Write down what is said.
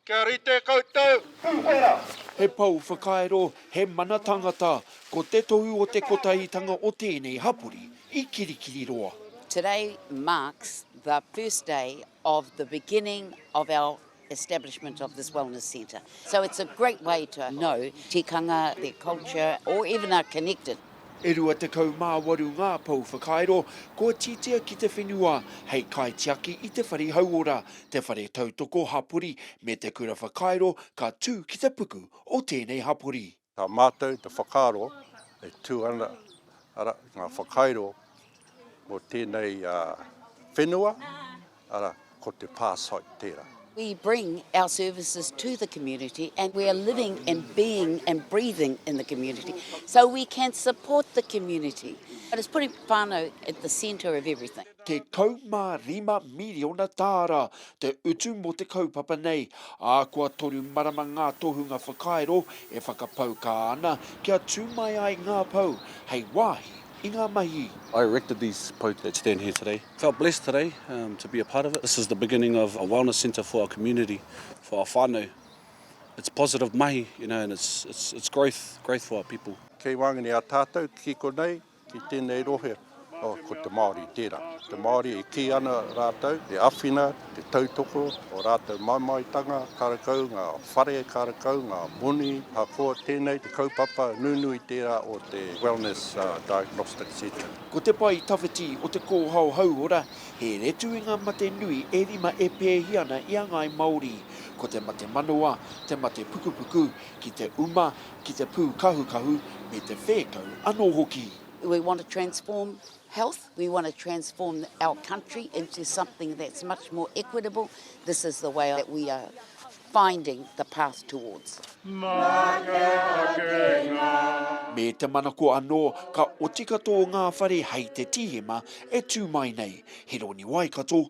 Kia rite koutou! Pūwhera! He pou whakairo, he mana tangata, ko te tohu o te kotahitanga o tēnei hapori i Kirikiriroa. Today marks the first day of the beginning of our establishment of this wellness centre. So it's a great way to know tikanga, their culture, or even are connected. E rua tekau mā waru ngā pou whakairo kua tītia ki te whenua hei kaitiaki i te whare hauora, te whare tautoko hapori me te kura whakairo ka tū ki te puku o tēnei hapori. Tā mātou te whakaaro e tū ana, arā, ngā whakairo mō tēnei whenua, arā, ko te pā site tērā. We bring our services to the community and we are living and being and breathing in the community so we can support the community. But it's putting whānau at the centre of everything. 15 miriona tāra te utu mō te kaupapa nei, ā, kua toru marama ngā tohunga whakairo e whakapaukā ana kia tū mai ai ngā pou hei wāhi i ngā mahi. I erected these pou that stand here today. Felt blessed today to be a part of it. This is the beginning of a wellness centre for our community, for our whānau. It's positive mahi, you know, and it's it's it's growth, growth for our people. Kei wāngene a tātou ki konei. I tēnei rohe, ko te Māori tērā. Te Māori e kī ana rātou, te awhina, te tautoko, o rātou mamaetanga, karakau ngā whare, karakau ngā moni, ahakoa tēnei te kaupapa nunui tērā o te Wellness Diagnostic Centre. Ko te pae tawhiti o te kōhao hauora, he retu i ngā mate nui e rima e pēhi ana i a ngāi Māori. Ko te mate manawa, te mate pukupuku, ki te uma, ki te pūkahukahu me te whēkau anō hoki. We want to transform health, we want to transform our country into something that's much more equitable, this is the way that we are finding the path towards. Me te manako anō, ka oti katoa ngā whare hei te tīhema e tū mai nei. Hironi Waikato,